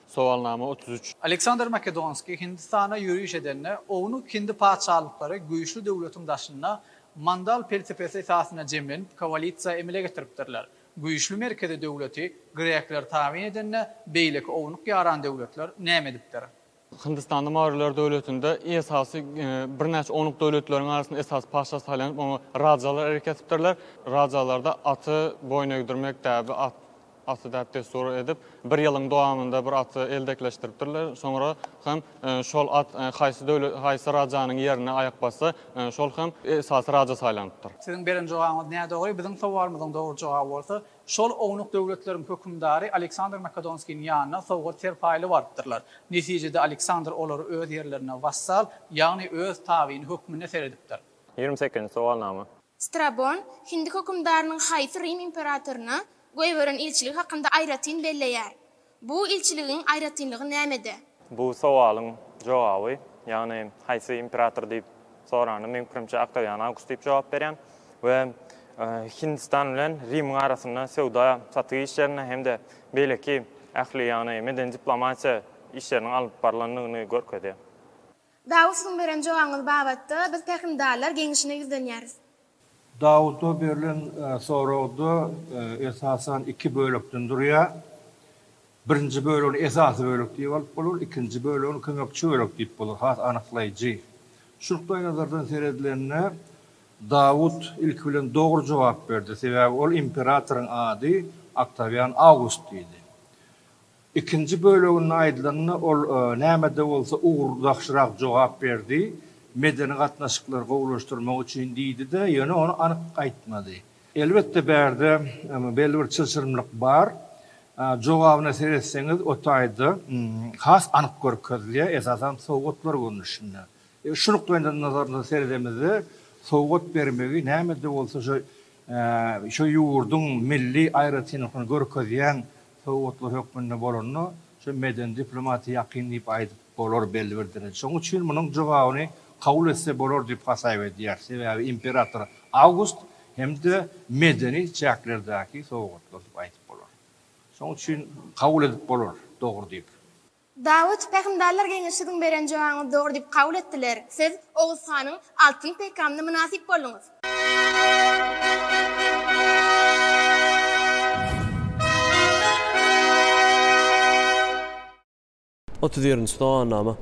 Sowalnama otuz üç. Aleksandr Makedonskiý Hindistana ýöriş edende, ownuk hindi patyşalyklary güýçli döwletiň daşynda Mandal pelsepesi esasynda jemlenip, koalisiýa emele getiripdirler. Güýçli merkezi döwleti grekler tabyn edende beýleki ownuk ýaran döwletler näme edipdir? Hindistanda Maurýalar döwletinde esasy birnäçe ownuk döwletleriň arasynda esasy patyşa saýlanyp, oňa rajalar erk etipdirler. Rajalarda aty boýun egdirmek däbi, at aty däp-dessur edip, bir ýylyň dowamynda bir aty eldekleşdiripdirler. Soňra hem Şol at haýsy döwlet, haýsy rajanyň ýerine aýak bassa, şol hem esasy raja saýlanypdyr. Siziň beren jogabyňyz nädogry, biziň sowalymyzyň dogry jogaby bolsa, şol ownuk döwletleriň hökümdary Aleksandr Makedonskiniň ýanyna sowgat-serpaýly barypdyrlar. Netijede Aleksandr olary öz ýerlerine wassal, ýagny öz tabyny hökmünde seredipdir. Ýigrimi sekizinji sowalnama. Strabon hindi hökümdarynyň haýsy Rim imperatoryna goýberen ilçiligi hakynda aýratyn belleýär? Bu ilçiligiň aýratynlygy nämede? Bu sowalyň jogaby, ýagny haýsy imperator diýip soranda, meň pikirimçe, Oktawian Awgust diýip jogap berýän we Hindistan bilen Rimiň arasynda söwda satygy işlerinde hem-de beýleki ähli, ýagny medeni diplomatiýa işleriniň alnyp barlandygyny görkezýär. Dawut siziň beren jogabyňyz babatda biz pähimdarlar geňeşine ýüzlenýäris. Dawuda berlen soragda esasan iki bölekden durýar. Birinji bölegini esasy bölek diýip alyp bolar, ikinji bölegini kömekçi bölek diýip bolar, has anyklaýjy. Şu nukdaýnazardan seredilende Dawut ilki bilen dogry jogap berdi, sebäbi ol imperatoryň ady Oktawian Awgust idi. Ikinji böleginde aýdylanda ol näme-de bolsa ugurdaşrak jogap berdi, medeni gatnaşyklary gowulaşdyrmak üçin diýdi-de, ýöne ony anyk aýtmady. Elbetde bärde belli bir çylşyrymlyk bar. Jogabyna seretseňiz o taýda has anyk görkezilýär, esasan sowgatlar görnüşinde. Şu nukdaýndan nazardan seredemizde sowgat bermegi näme-de bolsa şo ýurduň milli aýratynlyklaryny görkezýän sowgatlar hökmünde bolanda şu medeni diplomatiýa ýakyn diýip aýdyp bolar belli bir dereje. Şonuň üçin munuň jogabyny kabul etse bolar diýip hasaýb edýär. Sebäbi imperator Awgust hem-de medeni çäklerdäki sowgatlar diýip aýdyp bolar. Şonuň üçin kabul edip bolar dogry diýip. Dawut, Pähimdarlar geňeşi siziň beren jogabyňyzy dogry diýip kabul etdiler. Siz Oguz hanyň altyn peýkamyna mynasyp bolduňyz. Otuz ýedinji Sowalnama.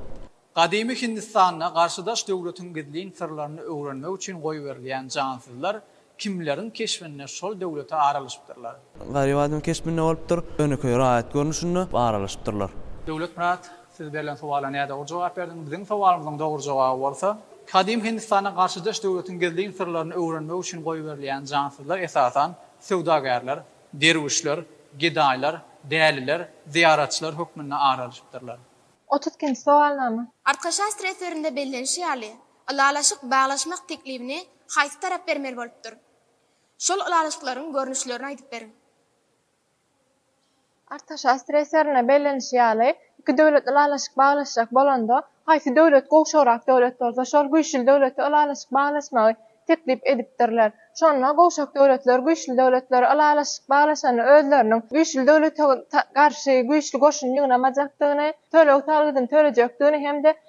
Gadymy Hindistanda garşydaş döwletiň gizlin syrlaryny öwrenmek üçin goýberilýän jansyzlar Kimleriň keşbinde şol döwlete aralaşypdyrlar? Garybadyň keşbinde bolupdyr. Ýönekeý raýat görnüşinde aralaşypdyrlar. Döwletmyrat, siz berlen sowala nädogry jogap berdiň. Biziň sowalymyzyň dogry jogaby bolsa, Gadymy Hindistanda garşydaş döwletiň gizlin syrlaryny öwrenmek üçin goýberilýän jansyzlar esasan söwdagärler, derwüşler, gedaýlar, däliler, zyýaratçylar hökmünde aralaşypdyrlar. Otuz ikinji sowalnama. Arkaşast reperinde bellenişi ýaly, Ylalaşyk baglaşmak teklibini haýsy tarap bermeli bolupdyr? Şol ylalaşyklaryň görnüşlerini aýdyp beriň. Artaşa streserine bellenişi ýaly, iki döwlet ylalaşyk baglaşjak bolanda, haýsy döwlet gowşagrak döwlet bolsa, şol güýçli döwlete ylalaşyk baglaşmagy teklip edipdirler. Şonda gowşak döwletler güýçli döwletlere ylalaşyk baglaşanda özleriniň güýçli döwlete garşy güýçli goşun ýygnamajakdygyny, töleg-salgydyny tölejekdigini hem-de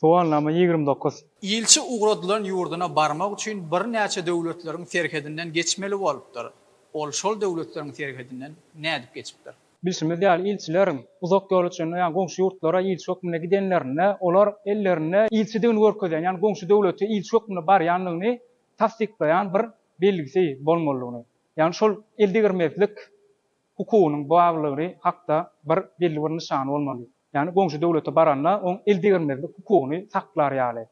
Sowalnama ýigrimi dokuz. Ilçi ugradylan ýurduna barmak üçin birnäçe döwletleriň serhedinden geçmeli bolupdyr. Ol şol döwletleriň serhedinden nädip geçipdir? Bilşimiz ýaly, ilçiler uzak ýola çenli, ýagny goňşy ýurtlara ilçi hökmünde gidenlerinde, olar ellerinde ilçidigini görkezýän, ýagny goňşy döwlete ilçi hökmünde barýandygyny tassyklaýan bir belgisi bolmalydygyny, ýagny şol eldegirmezlik hukugynyň barlygy hakda bir belli bir nyşany bolmaly. Ýagny goňşy döwlete baranda oň el degirmezlik hukugyny saklar ýaly.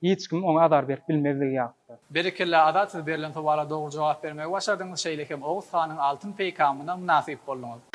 Hiç kim oňa azar berip bilmezligi ýalyda. Berekella Azat siz berlen sowala dogry jogap bermegi başardyňyz şeýle hem Oguz hanyň altyn peýkamyna mynasyp bolduňyz.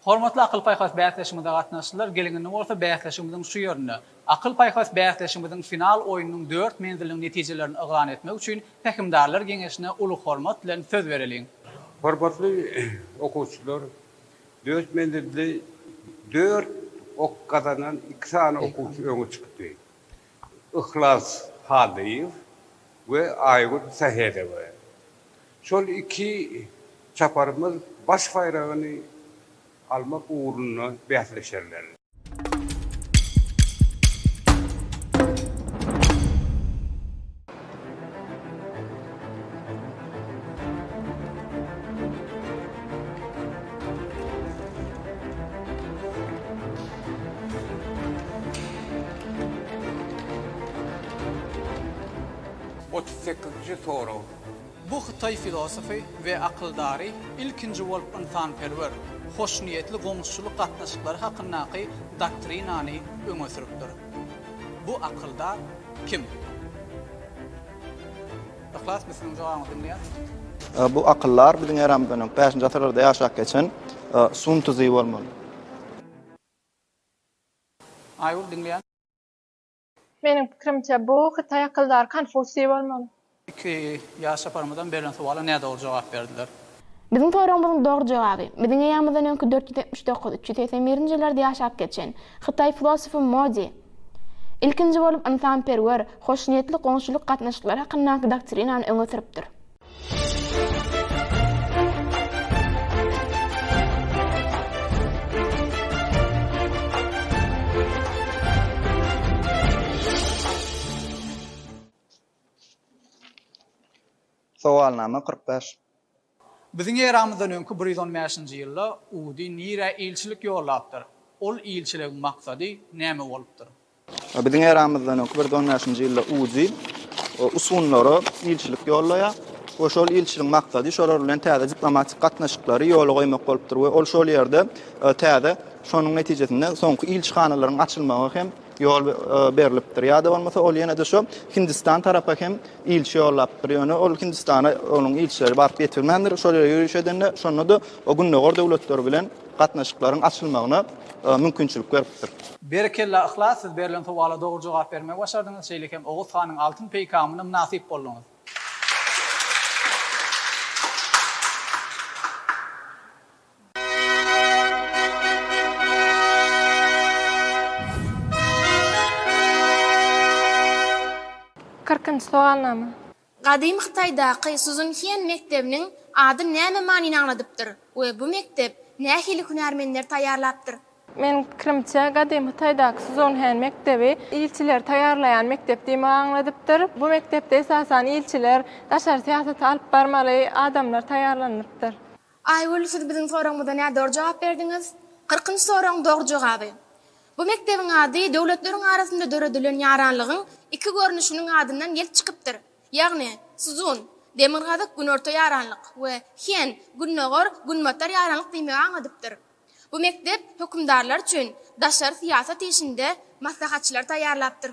Hormatly akyl-paýhas bäsleşigimize gatnaşyjylar, geliň indi bolsa bäsleşigimiziň şu ýerinde, akyl-paýhas bäsleşigimiziň final oýnunyň dört menziliniň netijelerini yglan etmek üçin Pähimdarlar geňeşine uly hormat bilen söz bereliň. Hormatly okuwçylar, dört menzilde dört ok gazanan iki sany okuwçy öňe çykdy. Yhlas Hallyýew we Aýgül Sähedowa. Şol iki çaparymyz baş baýragyny almak ugrunda bäsleşerler. Otuz sekizinji sorag. Bu hytaý filosofy we akyldary ilkinji bolup ynsanperwer, hoşniýetli goňuşçylyk gatnaşyklary hakyndaky doktrinany öňe sürüpdir. Bu akyldar kim? Yhlas Müslümiň jogabyny diňleýäris. Bu akyldar biziň eramyzdan öňki bäşinji asyrlarda ýaşap geçen Sun Tzu bolmaly. Aýgül diňleýän. Meniň pikirimçe bu hytaý akyldary Konfusiý bolmaly. Iki ýaş japarymyzam berlen sowala nädogry jogap berdiler. Biziň soragymyzyň dogry jogaby, biziň eýamyzdan öňki dört ýüz ýetmiş dokuz, üç ýüz segsen birinji ýyllarda ýaşap geçen, hytaý filosofy Modi, ilkinji bolup ynsanperwer, hoşniýetli goňşulyk gatnaşyklary hakyndaky doktrinany öňe sürüpdir. Sowalnama kyrk bäş. Biziň eramyzdan öňki bir ýüz on bäşinji ýylda Udy nirä ilçilik ýollapdyr? Ol ilçiligiň maksady näme bolupdyr? Biziň eramyzdan öňki bir ýüz on bäşinji ýylda Udy usunlara ilçilik ýollaýar we şol ilçiligiň maksady şolar bilen täze diplomatik gatnaşyklary ýola goýmak bolupdyr we ol şol ýerde täze şonuň netijesinde soňky ilçihanalaryň açylmagy hem ýol berlipdir. Ýa-da bolmasa ol ýene-de şu Hindistan tarapa hem ilçi ýollapdyr. Ýöne ol Hindistana onuň ilçileri baryp ýetirmändir. Şol ýere ýöriş edende şonda-da o gündogar döwletleri bilen gatnaşyklaryň açylmagyna mümkinçilik beripdir. Berekella Yhlas siz berlen sowala dogry jogap bermegi başardyňyz, şeýle hem Oguz hanyň altyn peýkamyna mynasyp bolduňyz. Kyrkynjy sogalnama. Gadymy Hytaýdaky Suzunhien mekdebiniň ady näme manyny aňladypdyr we bu mekdep nähili hünärmenleri taýýarlapdyr? Meniň pikirimçe, gadymy Hytaýdaky Suzunhien mekdebi ilçileri taýýarlaýan mekdep diýmegi aňladypdyr. Bu mekdepde esasan ilçiler, daşary syýasaty alyp barmaly adamlar taýýarlanylypdyr. Aýgül, siz biziň soragymyza nädogry jogap berdiňiz. Kyrkynjy soragyň dogry jogaby. Bu mekdebiň ady döwletleriň arasynda döredilen ýaranlygyň iki görnüşiniň adyndan gelip çykypdyr. Ýagny, Szun, Demirgazyk, Günorta ýaranlyk, we Hien, Gündogar, Günbatar ýaranlyk diýmegi aňladypdyr. Bu mekdep hökümdarlar üçin daşary syýasat işinde maslahatçylary taýýarlapdyr.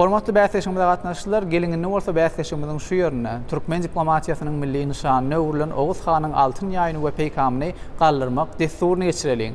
Hormatly bäsleşigimize gatnaşyjylar, geliň indi bolsa bäsleşigimiziň şu ýerinde türkmen diplomatiýasynyň milli nyşanyna öwrülen Oguz hanyň altyn ýaýyny we peýkamyny galdyrmak dessuryny geçireliň.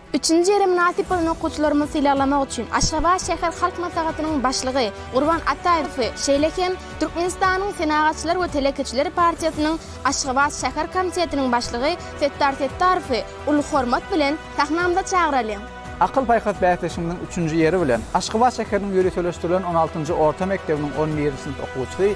Üçünji ýere mynasyp bolan okuwçylarymyzy sylaglamak üçin Aşgabat şäher Halk Maslahatynyň Başlygy Gurban Ataýewi, şeýle hem Türkmenistanyň Senagatçylar we telekeçiler partiýasynyň Aşgabat şäher komitetiniň başlygy Setdar Settarowy uly hormat bilen sahnamyza çagyralyň! Akyl-paýhas bäsleşiginiň üçünji ýeri bilen Aşgabat şäheriniň ýöriteleşdirilen on altynjy orta mekdebiniň on birinji synp okuwçysy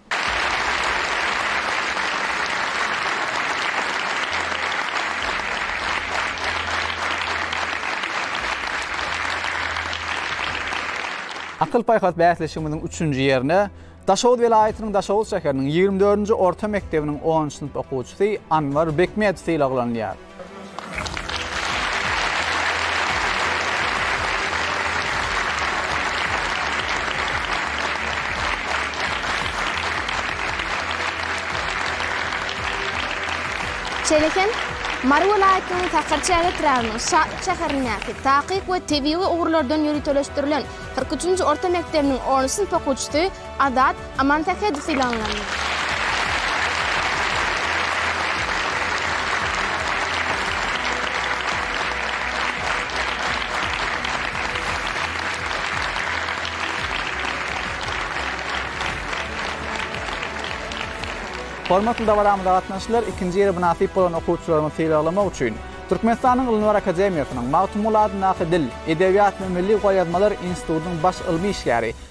Akyl-paýhas bäsleşigimiziň üçünji ýerine Daşoguz welaýatynyň Daşoguz şäheriniň ýigrimi dördünji orta mekdebiniň onunjy synp okuwçysy Anwar Bekmedow sylaglanylýar. Şeýle hem, Mary welaýatynyň Taharçäge etrabynyň Şahyr şäherindäki Takyk we tebigy ugurlardan ýöriteleşdirilen kyrk üçünji orta mekdebiniň on üç synp okuwçysy Azat Amansähedow sylaglandy. Hormatly dabaramyza gatnaşyjylar, ikinji ýeri mynasyp bolan okuwçylarymyzy sylaglamak üçin Türkmenistanyň Ylymlar akademiýasynyň Magtymguly adyndaky Dil, edebiýat we milli golýazmalar institutynyň baş ylmy işgäri,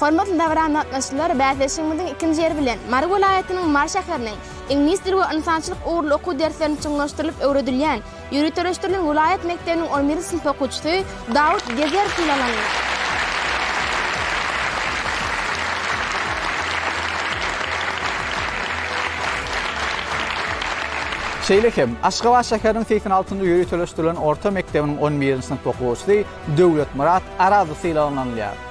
Hormatly dabara gatnaşyjylar, bäsleşigimiziň ikinji ýeri bilen Mary welaýatynyň Mary şäheriniň Iňlis dili we ynsançylyk ugurly okuw derslerini çuňlaşdyrylyp öwredilýän ýöriteleşdirilen welaýat mekdebiniň on birinji synp okuwçysy Dawut Gezer synlanandyr. Şeýle hem, Aşgabat şäheriniň segsen altynjy ýöriteleşdirilen orta mekdebiniň on birinji synp okuwçysy Döwletmyrat Arazly sylaglanylýar.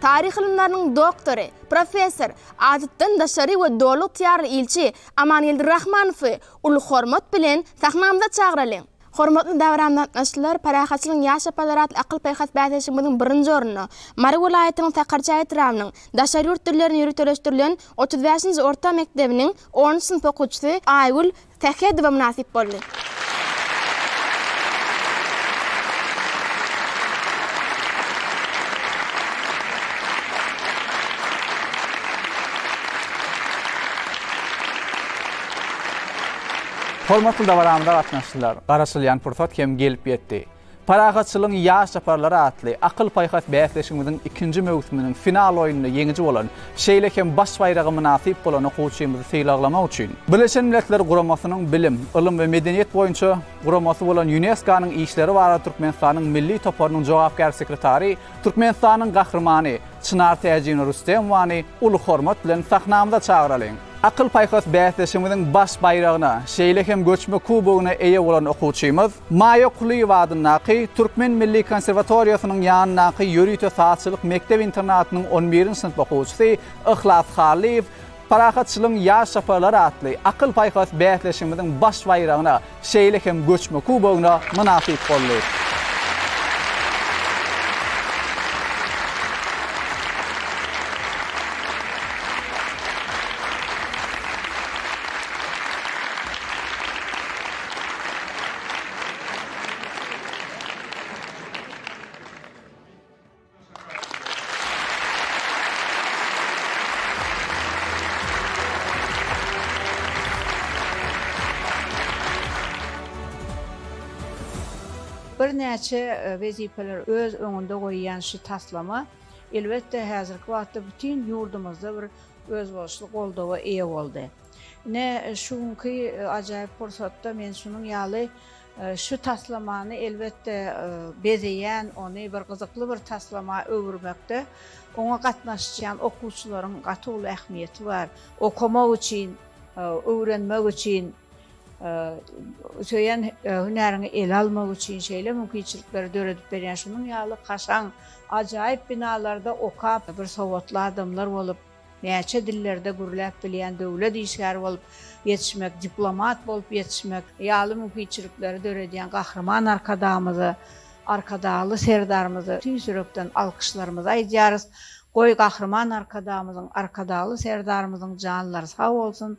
Taryh ylymlarynyň doktory, professor, adatdan daşary we doly ygtyýarly ilçi Amangeldi Rahmanowy uly hormat bilen sahnamyza çagyralyň! Hormatly dabram gatnaşyjylar, Parahatçylygyň ýaş ýaparlary atly akyl-paýhas bäsleşigimiziň birinji ornuna, Mary welaýatynyň Sakarçäge etrabynyň daşary ýurt dillerini ýöriteleşdirilen otuz bäşinji orta mekdebiniň onunjy synp okuwçysy Aýgül Sähedowa mynasyp boldy. Hormatly dabaramyza gatnaşyjylar, garaşylýan pursat hem gelip ýetdi. Parahatçylygyň ýaş çaparlary atly akyl-paýhas bäsleşigimiziň ikinji möwsüminiň final oýnunda ýeňiji bolan, şeýle hem baş baýraga mynasyp bolan okuwçymyzy sylaglamak üçin, Birleşen Milletler Guramasynyň bilim, ylym we medeniýet boýunça guramasy bolan Ýunesko-nyň işleri barada Türkmenistanyň Milli toparynyň jogapkär sekretary Türkmenistanyň Gahrymany Çynar Täjina Rüstemowany uly hormat bilen sahnamyza çagyralyň! Akyl-paýhas bäsleşigimiziň baş baýragyna, şeýle hem göçme kubogyna eýe bolan okuwçymyz, Maýa Kulyýewa adyndaky Türkmen milli konserwatoriýasynyň ýanyndaky ýörite sazçylyk mekdep-internatynyň on birinji synp okuwçysy Yhlas Hallyýew Parahatçylygyň ýaş çaparlary atly akyl-paýhas bäsleşigimiziň baş baýragyna, şeýle hem göçme kubogyna mynasyp boldy. Birnäçe wezipeler öz öňünde goýýan şu taslama, elbetde, häzirki wagtda bütin ýurdumyzda bir özboluşly goldawa eýe boldy. Ine, şu günki ajaýyp pursatda men şunuň ýaly Şu taslamany elbetde bezeýän, ony bir gyzykly bir taslama öwürmekde oňa gatnaşýan okuwçylaryň gaty uly ähmiýeti bar. Okamak üçin, öwrenmek üçin, söýen hünäriňi ele almak üçin şeýle mümkinçilikleri döredip berýän şunuň ýaly kaşaň, ajaýyp binalarda okap, bir sowatly adamlar bolup, Näçe dillerde gürläp bilýän döwlet işgäri bolup ýetişmek, diplomat bolup ýetişmek ýaly mümkinçilikleri döredýän Gahryman Arkadagymyza, Arkadagly Serdarymyza tüýs ýürekden alkyşlarymyzy aýdýarys. Goý, Gahryman Arkadagymyzyň, Arkadagly Serdarymyzyň janlary sag bolsun!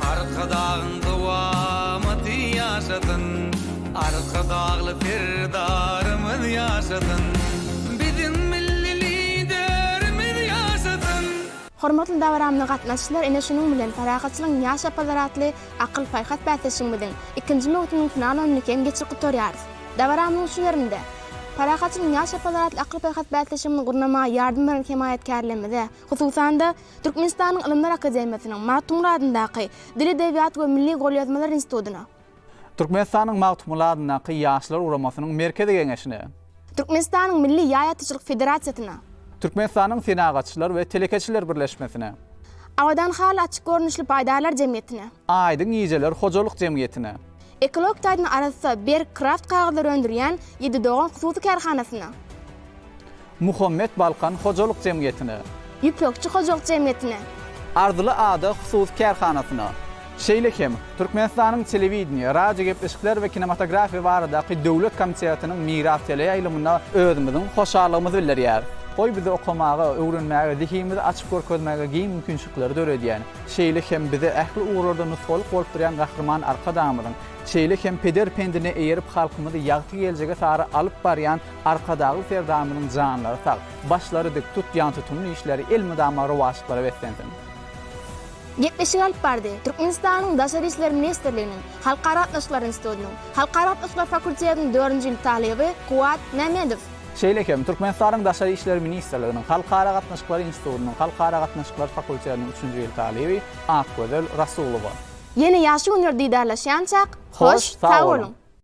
Arkadagyň dowamaty ýaşasyn, Arkadagly Serdarymyz ýaşasyn, Biziň Milli Liderimiz ýaşasyn! Hormatly dabarammyza gatnaşyjylar ine şunuň bilen Parahatçylygyň ýaşap bazar atly akyl-paýhas bäsleşigimiziň ikinji möwsüminiň final oýnuny kem geçirip gutarýarys. Dabarammyzyň şu ýerinde Parahatçylygyň ýaşap bazar atly akyl-paýhas bäsleşigimizi gurnamaga ýardam beren hemaýatkärlerimize, hususan-da, Türkmenistanyň Ylymlar akademiýasynyň Magtymguly adyndaky Dil, edebiýat we milli golýazmalar institutyna. Türkmenistanyň Magtymguly adyndaky Ýaşlar guramasynyň Merkezi geňeşine. Türkmenistanyň Milli ýaý atyjylyk federasiýasyna. Türkmenistanyň Senagatçylar we telekeçiler birleşmesine. Abadan haly açyk görnüşli paýdarlar jemgyýetine. Aýdyň gijeler hojalyk jemgyýetine. Ekologik taýdan arassa, berk kraft kagyzlary öndürýän Ýedi dogan hususy kärhanasyna. Muhammet Balkan hojalyk jemgyýetine. Ýüpekçi hojalyk jemgyýetine. Arzyly ada hususy kärhanasyna. Şeýle hem, Türkmenistanyň Telewideniýe, radiogepleşikler we kinematografiýa baradaky döwlet komitetiniň Miras teleýaýlymyna özümiziň hoşallygymyzy bildirýäris. Goý bize okamaga, öwrenmäge, zehinimizi açyp görkezmäge giň mümkinçilikleri döredýän, şeýle hem bize ähli ugurlarda nusgalyk bolup durýan Gahryman Arkadagymyzyň, şeýle hem peder pendine eýerip halkymyzy ýagty geljege sary alyp barýan Arkadagly Serdarymyzyň janlary sag, başlary dik, tutýan tutumly işleri elmydama rowaçlyklara beslensin! Gepleşigi alyp bardy. Türkmenistanyň Daşary işler ministrliginiň Halkara gatnaşyklar institutynyň Halkara gatnaşyklar fakultetiniň dördünji ýyl talyby Kuwat Mämmedow. Şeýle hem, Türkmenistanyň Daşary işler ministrliginiň Halkara gatnaşyklar institutynyň Halkara gatnaşyklar fakultetiniň üçünji ýyl talyby Akgözel Rasulowa. Ýene ýagşy günler didarlaşýançak, hoş, sag boluň!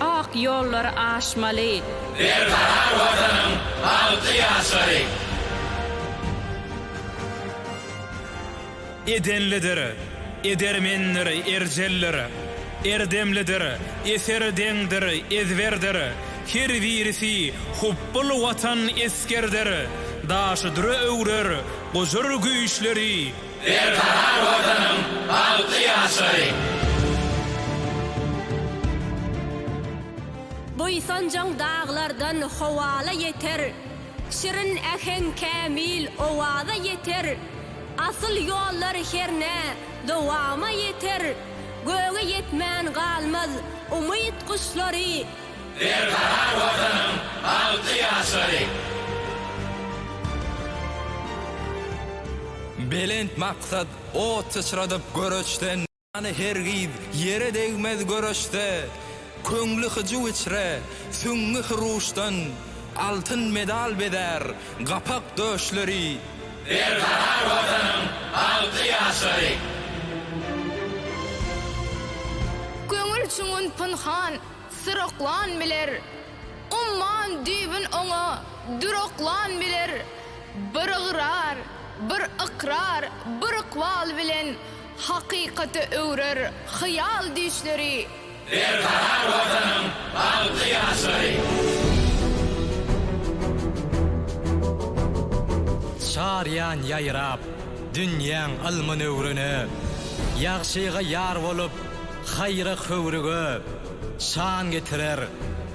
Ak ýollary aşmaly. Berbahar Watanyň bagtly ýaşlary! Edenlidir edermendir erjeldir, Erdemlidir eser deňdir ezberdir, Her birisi hupbul Watan esgerdir, Daşy düre öwrer gujur güýçleri, Berkarar Watanyň bagtly ýaşlary! Buýsanjaň daglardan howala ýeter, Şirin äheň kämil owaza ýeter, Asyl ýollar hernä dowama ýeter, Göge ýetmän galmaz umyt guşlary. Berkarar Watanyň bagtly ýaşlary! Belent maksat ot syçradyp göreçden. Jany hergiz ýere degmez göreçde. Köňli hyjuw içre, süňňi hyruşdan. Altyn medal bezär gapak döşleri. Berkarar Watanyň bagtly ýaşlary! Köňül çuňun pynhan, Syroklan biler. Umman düýbün oňa Düroklan biler. Bir ygrar, bir ykrar, bir ykbal bilen Hakykata öwrer hyýal düýşleri. Berkarar Watanyň bagtly ýaşlary! Çarýan ýaýrap, dünýäň ylmyn öwrene, Ýagşyga ýar bolup, Haýra höwrüge şan getirer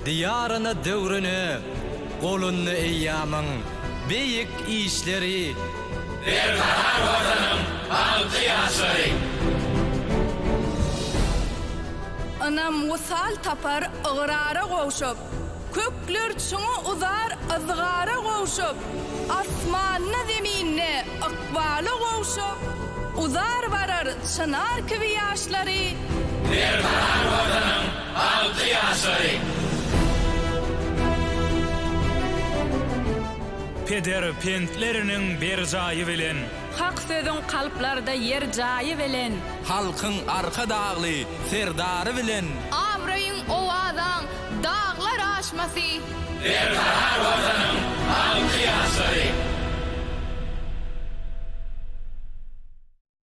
Diýaryna döwrüne Golunda eýýamyň beýik işleri Berkarar Watanyň bagtly ýaşlary. Ynam wysal tapar ygrara gowşup. Kökler çuňa uzar yzgara gowşup, Asmanda zeminde ykbala gowşup, Uzar barar çynar kibi ýaşlary, Berkarar Watanyň alty ýaşlary. Peder pentleriniň berjaýy bilen. Hak sözüň kalplarda ýer jaýy bilen. Halkyň Arkadagly Serdary bilen. Abraýyň, owazaň, Daglar aşmasy. Berkarar Watanyň al kyýaçlary.